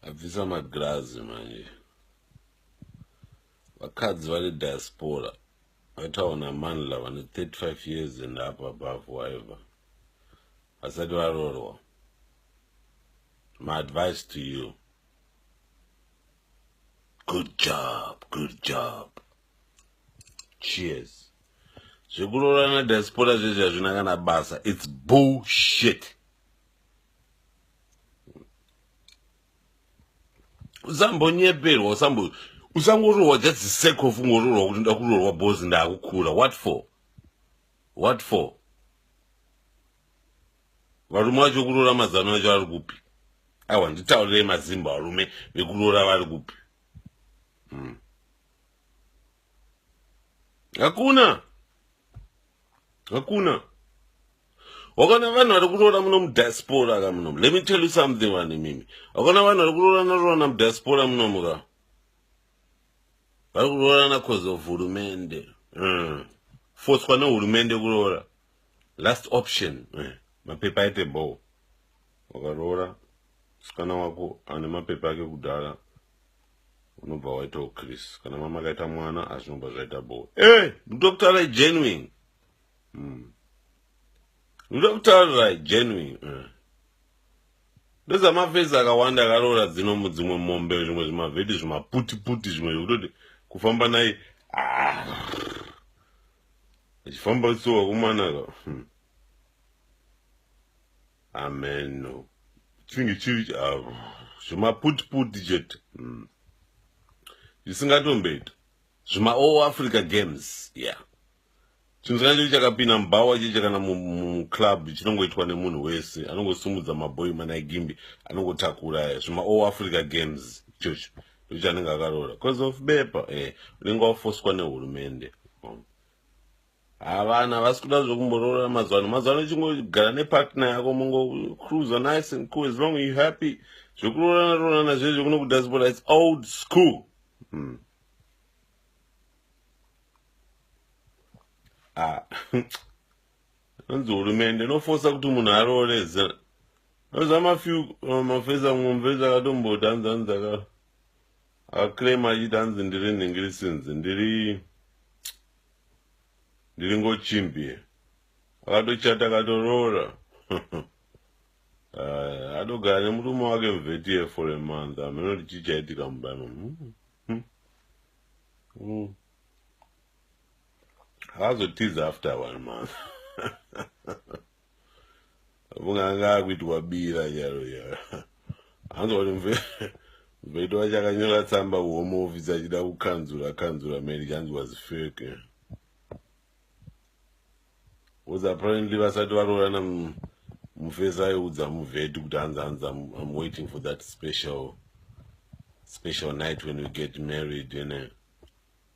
abvisa magirazi manje vakadzi vane diaspora vaitawo namanla vane 35 years and up above waiver vasati varorwa my advice to you good job good job cheers zvekuroorana diaspora zvezvi hazvina kana basa its bullshit usambonyeperwa usambo usangoroorwa just the sake of ungoroorwa kuti nda kuroorwa bos ndaakukura what for what for varume vacho kuroora mazano acho ari kupi aiwa nditaurirei mazimba varume vekuroora vari kupi hmm. hakuna hakuna wakaona vanhu vari kuroora muno mudiaspora ka munomu let me tell you something vanhu imimi wakaona vanhu vari kuroorana roorana mudiaspora munomu ka vari kuroorana cause of hurumende mm. foswa nehurumende kuroora last option eh, mapepa aite bho wakaroora musikana wako ane mapepa ake kudhara unobva waita uchris kana mama akaita mwana azvinobva zvaita bo e eh, ndokutaura genuine hmm. ndokutaura genuine eh. ndozamafesi akawanda akaroora dzino mudzimwe mombe zvimwe zvimavheti zvimaputiputi zvimwe zvekutoti kufamba naye ah. achifamba so wakumanaka hmm. amen chinenge chiri ah, zvemaputiputi chete hmm. zvisingatomboita zvima all africa games yeah chinhu changa chiri chakapinda mubhawa cheche kana muclub chinongoitwa nemunhu wese anongosumudza mabhoyi manaigimbi anongotakura zvima all africa games ichocho ndochanenge akaroora bcause of bepa e eh, unenge wafoswa nehurumende Haa vanhu havasi kuda zvekumboroora mazuva ano. Mazuva ano chingogara nepartner yako mongocruiser nice and cool as long you happy. Zvekuroorana roorana zviye zvekuno kudiaspora it's old school. Hmm. Ah. Anzi hurumende inofosa kuti munhu aroore zera. Noza mafew uh, mafesa mumvesa akatomboti anzi anzi aka aclaim achiti anzi ndiri nhingirisinzi ndiri ndiri ngochimbie akatochata akatoroora eh, atogara nemurume wake mvetiye for a month hameno kuti chii chaitika mubama hmm, hmm, hmm. akazotiza after one month afunga anga akuitwa bira charo charo hanzwa kuti mve mveto wacho akanyora tsamba kuhome office achida kukanzura kanzura mari chanzi was fake was apparently vasati varoorana mufesi aiudza muvheti kuti hanzi hanzi im waiting for that special special night when we get married ene you know?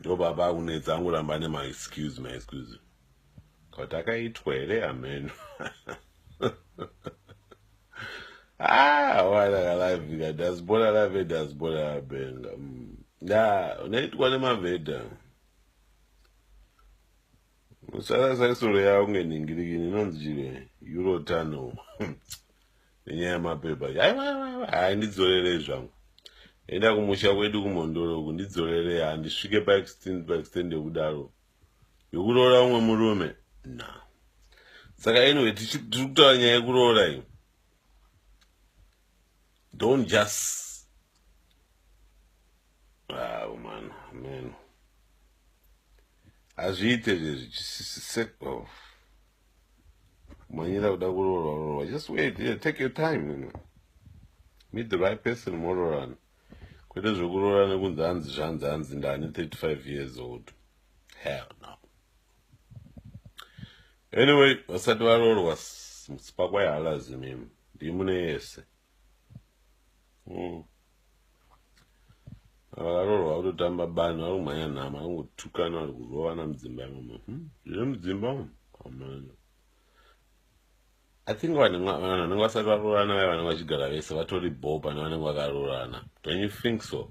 ndo baba akunetsa angoramba ane maexcuse maexcuse kuti akaitwa here hameno ah wana kalavika dasibona lave dasibona labenga mm. ya unaitwa nemavhedha usarasa isoro yavo ngenhingirikini inonzi chire eurotunnel nenyaya yemapepa yaiwaiwaiwa hai ndidzorerei zvangu enda kumusha kwedu kumhondoro uku ndidzorerei handisvike paextend paextend yokudaro yokuroora umwe murume na saka anyway tiri kutaura nyaya yekuroora iyo don't just ah, man man hazviite zvezvi oh. manyira kuda kuroorwa roorwa just wait yeah, take your time you know. meet the right person moroorana kwete zvekuroorana kunzi hanzi zvanzi hanzi ndani 35 years old hell no anyway vasati varoorwa mutsipa kwaihalazi mimi ndimune yese mm. vakarorwa kutotamba bani vari kumhanya nhama vari kungotukana vari kurovana mudzimba imomo hmm? zviri mudzimba umu amana i think vanhu vanenge vasati varoorana vaya vanenge vachigara vese vatori bho pane vanenge vakarorana don you think so